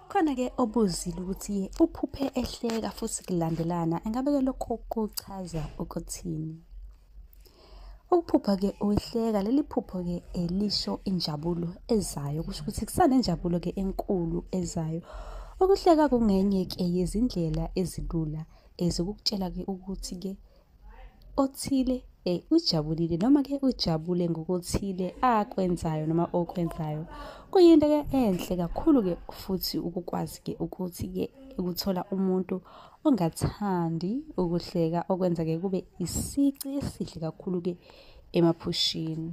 Khona-ke obuzile ukuthi uphuphe ehleka futhi kulandelana, engabe-ke lokho kuchaza ukuthini? Ukuphupha-ke uhleka, leli phupho-ke eh, lisho injabulo ezayo, kusho ukuthi kusanenjabulo-ke enkulu ezayo. Ukuhleka kungenye-ke yezindlela ezilula ezokukutshela-ke ukuthi-ke othile eh ujabulile noma ke ujabule ngokuthile akwenzayo noma okwenzayo kuyinto ke enhle kakhulu ke futhi ukukwazi ke ukuthi ke ukuthola umuntu ongathandi ukuhleka okwenza ke kube isici esihle kakhulu ke emaphushini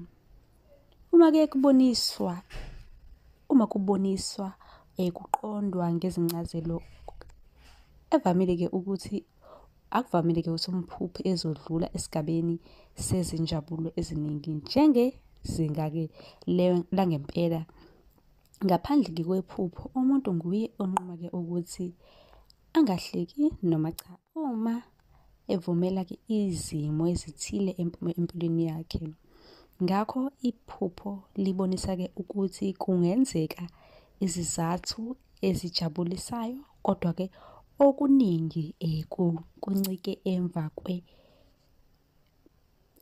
uma ke kuboniswa uma kuboniswa eh kuqondwa ngezincazelo evamile ke ukuthi Akuvamile-ke ukuthi umphuphe ezodlula esigabeni sezinjabulo eziningi njengezinga-ke langempela. Ngaphandle-ke kwephupho, umuntu nguye onquma-ke ukuthi angahleki noma cha uma evumela-ke izimo ezithile empilweni yakhe. Ngakho iphupho libonisa-ke ukuthi kungenzeka izizathu ezijabulisayo kodwa ke okuningi eh, kuncike emva kwe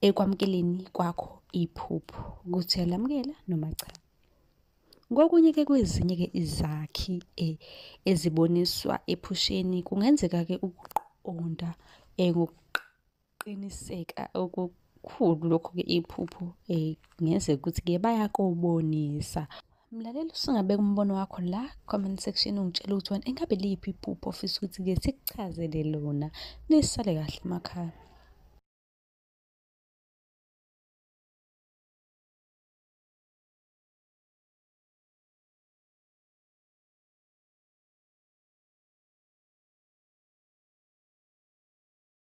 ekwamukeleni kwakho iphupho ukuthi uyalamukela noma cha kokunye ke kwezinye ke izakhi eh, eziboniswa ephusheni kungenzeka ke ukuqonda eh, Qiniseka okukhulu lokho-ke iphupho um ngenzeka ukuthi-ke bayakobonisa Mlaleli usungabeka umbono wakho la comment section ungitshela ukuthi wena engabe liphi iphupho ofisa ukuthi-ke sikuchazele lona nisale kahle emakhaya